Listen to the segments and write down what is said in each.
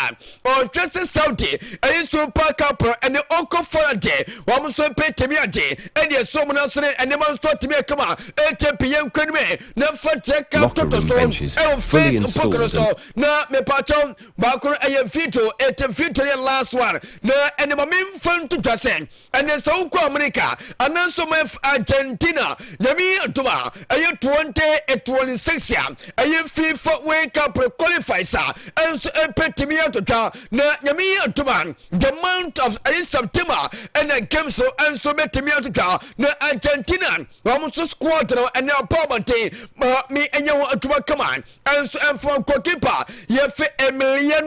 a ɔhwɛ sɛ Saudi ɛyi so mpa kapro ɛne ɔkɔ fara de wɔn nso mpɛ tɛmi ade ɛne ɛso wɔn aso ne ɛnema nso atɛmi akama ɛtɛ piyɛ nkwa no mɛ na fa tia ka tɔtɔ so ɛwɔ Facebook no so na mepatɔ baako ɛyɛ video ɛtɛ video yɛ last one na ɛnema memfa nto dwa sɛ Ɛnɛ sɛ wokɔ Amerika ananso ma Argentina nyame yi adom a ɛyɛ 2026 a ɛyɛ FIFA World Cup qualifies a ɛnso ɛpɛtumi atotwa na nyame yi adom a the month of ɛyɛ September ɛna games no ɛnso bɛtumi atotwa na Argentina wɔn nso squad no ɛnɛ abɔ abɔnten ma me ɛnyɛ ho adwuma kama ɛnso ɛmfa goalkeeper yɛfɛ Emiliano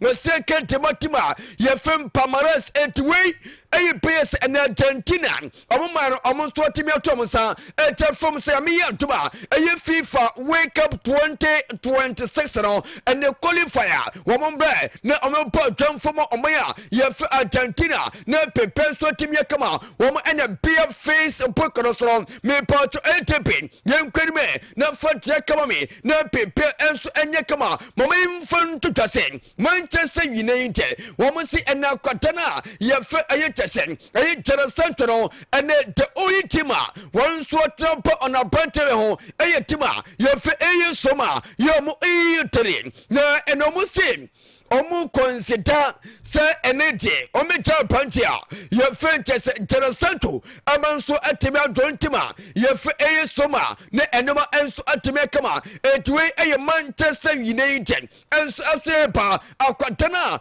Na sɛ kente bɔtem a yɛfem Palmarès enti wei ɛyɛ pɛyɛ sɛ ɛnɛ Argentina ɔmo man no ɔmo nso atumi ato ɔmo nsa ɛkyɛ fam sɛ ame yɛ atom a ɛyɛ FIFA World Cup 2026 no ɛnɛ qualifier wɔn mbrɛ na ɔmo bɔ adwamfo mu ɔman a yɛfɛ Argentina na pepe nso atumi akama wɔn ɛnɛ beer face book no soro mepatwo ATP yɛn kwan mu na fa tia kama me na pepe nso ɛnyɛ kama Mom mfa nto dwa sɛ Manchester United wɔn se ɛnɛ akwadan a yɛfɛ ɛyɛ kyɛ sɛ ɛyɛ Jadon Sancho no ɛnɛ the only team a wɔn nso atena ba ɔno abrantere ho ɛyɛ team a yɛfɛ ɛyɛ som a yɛ wɔn ɛyɛ tere na ɛnɛ wɔn se wɔn kɔnsida sɛ ɛnɛ deɛ wɔn gya abrante a yɛfɛ kyɛ sɛ Jadon Sancho Ɛma nso atumi adwo ntem a yɛfrɛ eyi soma ne ɛnema nso atumi akama. Enti wei ɛyɛ Manchester United nso ɛso ɛreba akwadan a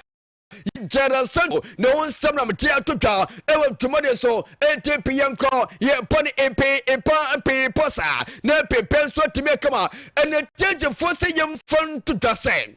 Jadon Sancho ne ho nsɛm na mete ato dwa ɛwɔ dwumadi so enti pe yɛn kɔ yɛn pɔ ne mpe mpa mpe pɔ saa na mpe pɛ nso atumi akama ɛnɛ gyegyefoɔ sɛ yɛmfa nto dwa sɛ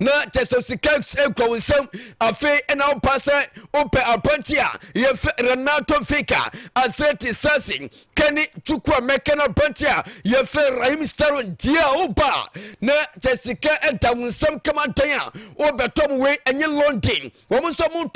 na Tesosikeus kura wo nsam afei na wopa sɛ wopɛ apɔnkye a yɛfɛ Renato Fika Aseti Sasi Kani Chukwu Amɛka no apɔnkye a yɛfɛ Rahim Sterling deɛ a wopa na kyɛ sika da wo nsam kama dan a wobɛtɔ mo wei ɛnyɛ London wɔn nso mo